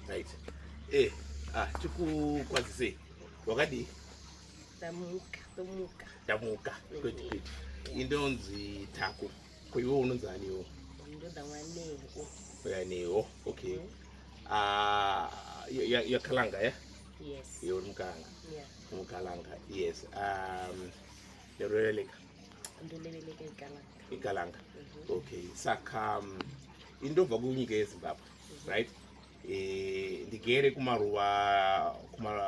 Right. Eh, ah, tikukwazisei. Wakadii? Tamuka, tamuka. Tamuka. Kwete kwete. Indonzi Taku. Kwa hiyo unonzi ani wewe? Ndoda mwaneho. Mwaneho. Okay. Mm -hmm. Ah, ya, ya, ya Kalanga, eh? Yes. Yo mkanga. Yeah. Mkalanga. Yes. Um ndoreveleka ndoreveleka igalanga igalanga mm -hmm. okay saka um, indobva kunyika yezimbabwe mm -hmm. right e, ndigere kumaruva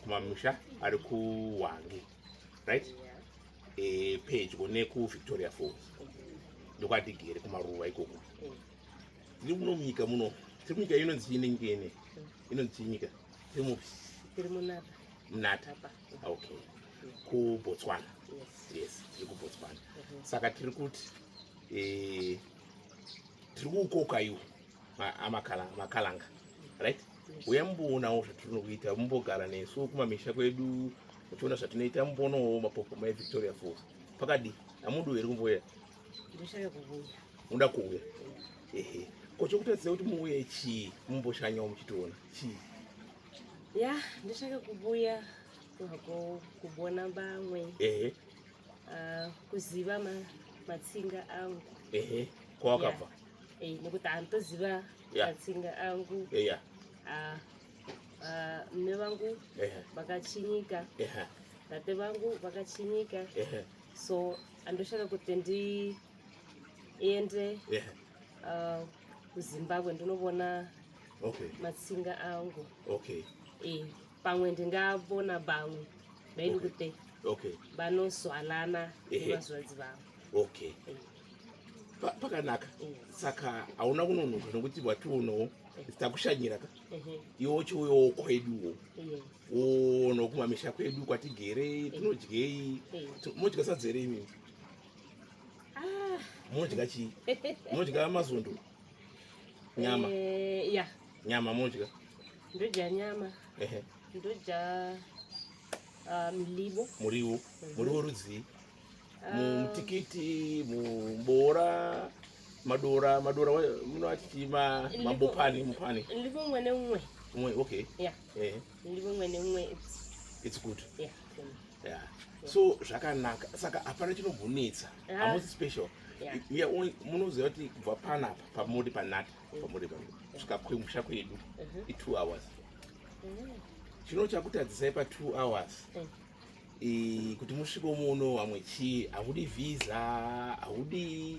kumamusha kuma ari kuhwange right yeah. e, pedyo nekuvictoria falls mm -hmm. ndokwatigere kumaruva ikoko mm -hmm tiri muno munyika muno tiri munyika inonzi chii nenyika ine inonzi chii nyika tiri mupi tiri munata munata okay kubotswana yes tiri kubotswana mhm. saka tiri kuti eh, tiri kukoka iwo amakalanga right uya mumboonawo zvatirinokuita mumbogara nesu kumamisha kwedu muchiona zvatinoita mumboonawo mapopo mai victoria falls pakadi amudi uye ri kumboya unoda kuuya ehe ko chokutadzisa kuti muuye chii mumboshanyawo muchitiona chii ya ndishaka kubuya wako kubona bamwe ehe uh, kuziva ma, matsinga angu ehe kwawakabva yeah. eh, nekuti antoziva yeah. matsinga angu eh, yeah. uh, uh, mme vangu vakachinyika eh. eh. tate vangu vakachinyika eh. so andoshaka kuti ndiende yeah. uh, kuzimbabwe ndinovona okay. matsinga angu okay. e, pamwe ndingavona bamwe vaidi okay. kuti okay. vanozwanana nevazvadzi vavo okay. e. Pa, pakanaka e. saka hauna kunonoka nokuti wationoo takushanyira ka iwe uchiuyawo kweduwo woona kumamisha kwedu kwatigerei tinodyei modya sadzi here imimi ah. modya chii modya mazondo nyama eh, ya nyama modya ndodya nyama ehe ndodya ah, mlibo muriwo mhm. muriwo rudzii ah. mutikiti muboora madora madora munoati chii mambopani mupani libo umwe neumwe umwe okay ya ehe ndimumwe nemwedzi it's good yeah, yeah. yeah. so zvakanaka saka hapana chinombonetsa ah. hamusi special munoziva kuti kubva panapa pamuri panata mm. pamuri kusvika kwemusha kwedu mm-hmm. i2 hours mm. chino chakutadzisai pa2 hours mm. e, kuti musviko muno vamwe chii haudi visa haudi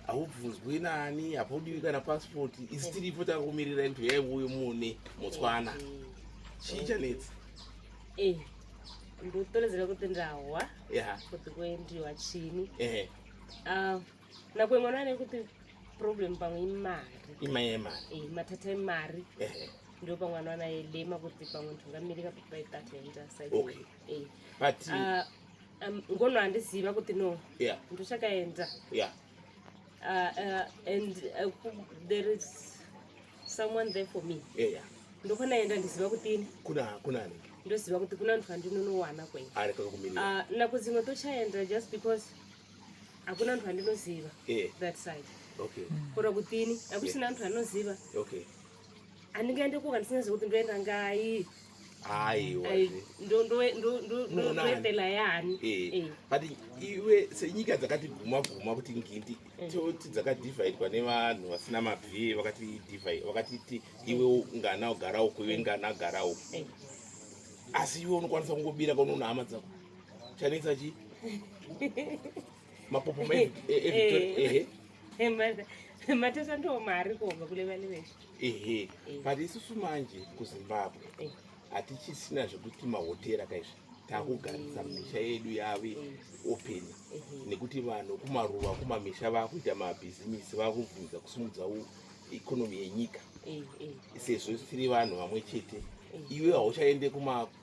haubvunzwi nani hapaudiwi kana passport isi tiripo takumirira kuti yai uyo mune motswana chii chanetsi eh, ndotolezera kuti ndahwa kuti kuendiwa chini ah, Nakwe mwana ane kuti problem pamwe imari. Ima yemari. Eh, matata emari. Eh. Ndio pamwe mwana anaye lema kuti pamwe tungamirika kuti by that yaita side. Okay. Eh. But uh, um, ngono andiziva kuti no. Yeah. Ndochakaenda. Yeah. Uh, uh, and uh, there is someone there for me. Yeah, yeah. Ndokwanaenda ndiziva kuti ini. Kuna kuna anenge. ndoziva kuti kuna ndwa ndinonowana kwenyu ah, nakudzimwe tochaenda just because hakuna antu andinoziva eh. that side okay mm. kora kutini akusina antu anoziva okay andinga ende kuka ndisingaziva kuti ndoenda ngai aiwa ndoendela yani eh. eh. but iwe senyika dzakati guma guma kuti ngindi eh. toti dzakadividwa nevanhu vasina mabvee vakati divide vakatiti iwe ngana ugara uku iwe ngana agara uku asi iwe unokwanisa kungobira kaunoona hama dzako Chanetsa chi? Mapopo ma eh, eh, eh, eh. eh. Matesa ndo mari kobva kule vale veshe. Ehe. But isusu manje ku Zimbabwe. Eh. Hatichisina zvekuti mahotera kaizvi. takugarisa misha yedu yave open nekuti vanhu kumaruva kumamisha vakuita mabhizimisi vakubvunza kusimudza ikonomi yenyika sezvo tiri vanhu vamwe chete iwe hauchaende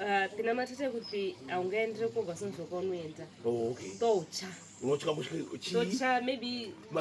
Ah, pina matete kuti haungaendere koga sonozoka unoenda oh, okay. toucha notya kutya chii notya maybe